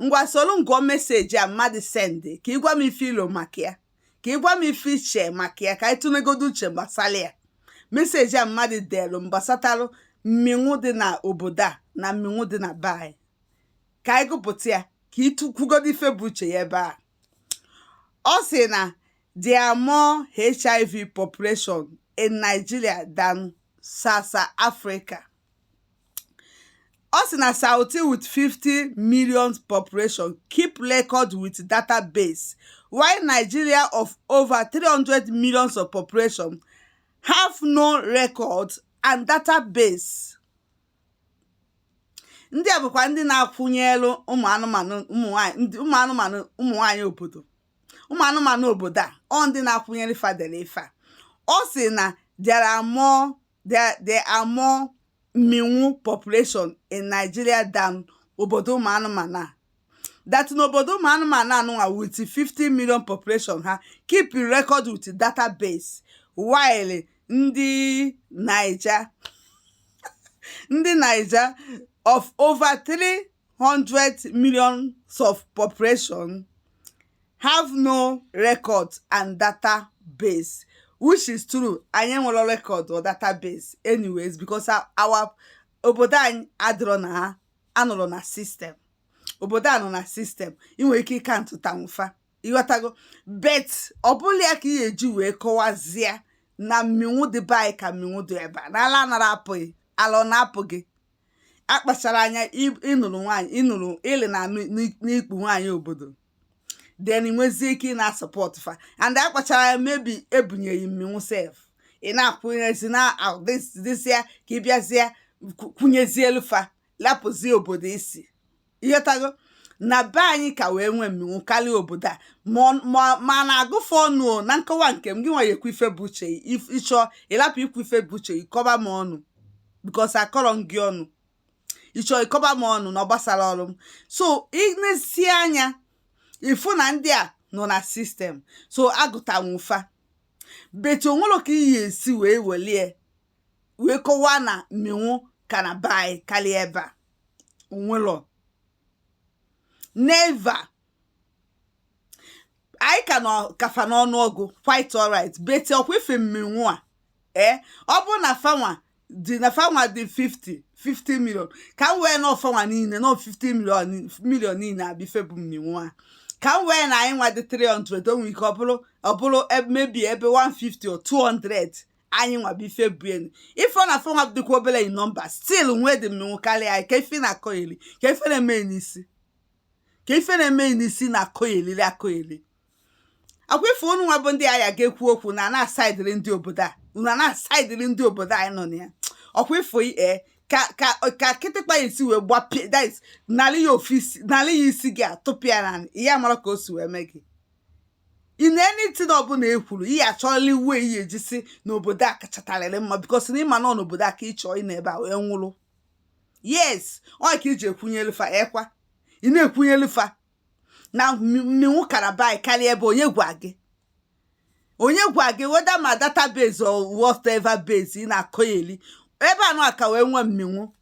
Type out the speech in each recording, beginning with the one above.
ngwa soro m gụọ meseji a mmadụ sendị ka ị gwa m ife i lo maka ya ka ị gwa m ife i che maka ya ka anyị tụnegodo uche gbasalụ ya meseji a mmadụ delu m gbasatalụ mmịnwụ dị na obodo a na mmịnwụ dị na be anyị ka anyị gụpụta ya ka ị tụkwugodo ife bụ uche ya ebe a ọ sị na there are more hiv population in nigeria than south africa Ọ sị na Southy with 50 million population keep record with database while Nigeria of over 300 millions of population have no record and database. ndị a bụkwa ndị na-akwụnyelụ ụmụ anụmanụ ụmụ anụmanụ ụmụ nwaanyị obodo ụmụ anụmanụ obodo a ọ ndị na-akwụnyere fa dere ife a ọ sị na there are more there, there are more mmịnwụ population in Nigeria than obodo ụmụ anụmanụ a. That n'obodo ụmụ anụmanụ a nụnwa with 50 million population ha keep record with database while ndị Naija ndị Naija of over 300 millions of population have no record and database which is true anyị enwelọ record or database anyways because our obodo anyị adịrọ na ha anọrọ na sistem obodo a nọ na sistem ị nwere ike ịkaụntụtanwu fa ịghọtago bet ọ bụlọ ya ka ị ga-eji wee kọwazie na mmịnwụ dị be anyị ka mmịnwụ dị ebe a na ala anarọ apụ gị ala ọ na-apụ gị akpachara anya ị nụrụ nwaanyị ị nụrụ ịlị na n'ikpu nwaanyị obodo then i nwezie ike ị na-asọpọt fa and akpachara anya maybe e bunye gị mmịnwụ sef ị na-akwụnyezi na dịzịa ka ị bịazie kwụnyezielu fa lapụzie obodo i si ịghọtago na be anyị ka wee nwee mmịnwụ karịa obodo a mana a gụ fa ọnụ na nkọwa nke m gị nwa ya-ekwu ife bụ uche ị chọọ ịlapụ ikwu ife bụ uche ị kọba m ọnụ bikos akọrọ m gị ọnụ ị chọọ ịkọba m ọnụ na ọ gbasarọ ọrụ m so ị nesie anya ị fụ na ndị a nọ na sistem so a gụtanwu fa beti o nwelọ ka ị ya-esi wee welie wee kọwaa na mmịnwụ ka na be anyị karịa ebe a o nwelọ neva anyị ka nọ ka fa n'ọnụ ọgụ quite alright beti ọkwa ife mmịnwụ a ee ọ bụrụ na fanwa dị na fanwa dị 50 50 million ka m wee na fanwa niile nọ 50 million million niile abịa ife bụ mmịnwụ a ka m wee na anyị nwa dị 300 o nwere ike ọ bụrụ ọ bụrụ e- maybe ebe 150 or 200 anyị nwa bụ ife bụ enu ife ọ na fa nwa dịkwa obere in nọmba still nwee the mmenwu karịa anyị ka ife na-akọyeri ka ife na-eme n'isi ka ife na-eme n'isi na-akọyeri akọyeri ọkwa ife unu nwa bụ ndị agha ga-ekwu okwu na na-asaidịrị ndị obodo a unu a na-asaidịrị ndị obodo anyị nọ na ya ọkwa ị fụ ee ka ka ka kịtịkpa ya-esi wee gbapịa this nalị ya ofisi nalị ya isi gị atụpịa na ya mara ka o si wee mee gị in anything ọbụla e kwuru ihe achọrọla iwu eyi ejisi n'obodo a kachatarịrị mma because na ị ma nọ n'obodo a ka ị chọọ ịna ebe a wee nwụrụ yes ọ ka i ji ekwunyelu fa ọkwa ị na-ekwunyelu fa na mminwu karabai karịa ebe onye gwa gị onye gwa gị whether ma database or whatever base ị na-akọyeli ebe anụ aka wee nwee mminwu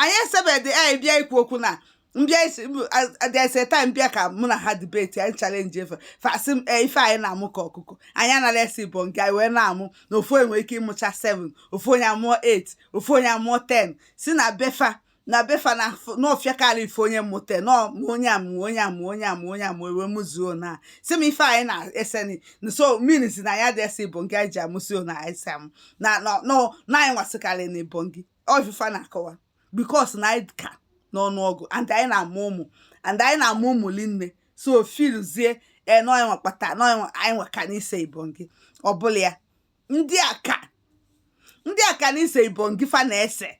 anyị esebedị anyị bịa ikwu okwu na mbịa isi adịese taa mbịa ka mụ na ha debate anyị challenge ife fa sị m ee ife anyị na-amụ ka ọkụkọ anyị anara esi bụ nke anyị wee na-amụ na ofu onye nwere ike ịmụcha 7 ofu onye amụọ 8 ofu onye amụọ 10 sị na befa na befa na n'ọfịa karị ife onye mụta na onye amụ onye amụ onye amụ onye amụ e wee mụzuo na-asị m ife anyị na-eseni nso mmiri si na ya dị esi bụ nke anyị ji amụsio na anyị si amụ na na anyị nwasịkarị na ibongi ọ ife fa na-akọwa because na anyị ka n'ọnụọgụ and anyị na-amụ ụmụ and anyị na-amụ ụmụ linne so fillzie enọnwa kpata nọnwa anyị nwa ka n'ise ibongi ọbụla ya ndị a ka ndị a ka n'ise ibongi fa na-ese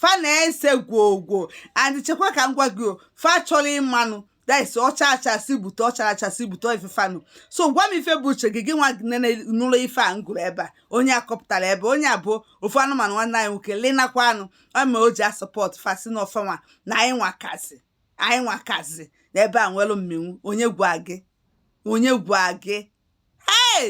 fa na-ese gwogwo and chekwa ka m gwa gị ọ fa chọrọ ịmanụ this ọcha achasị bute ọchara achasị bute ifefanụ so gwa m ife bụ uche gị gị nwa nene nụrụ ife a m gụrụ ebe a onye a kọpụtara ebe onye a bụ ofu anụmanụ nwanne anyị nwoke linakwa anụ ọ ma o ji asupport fa sị na ọ fa nwa na anyị nwa kazi anyị nwa kazi na ebe a nwere mmenwu onye gwa gị onye gwa gị hey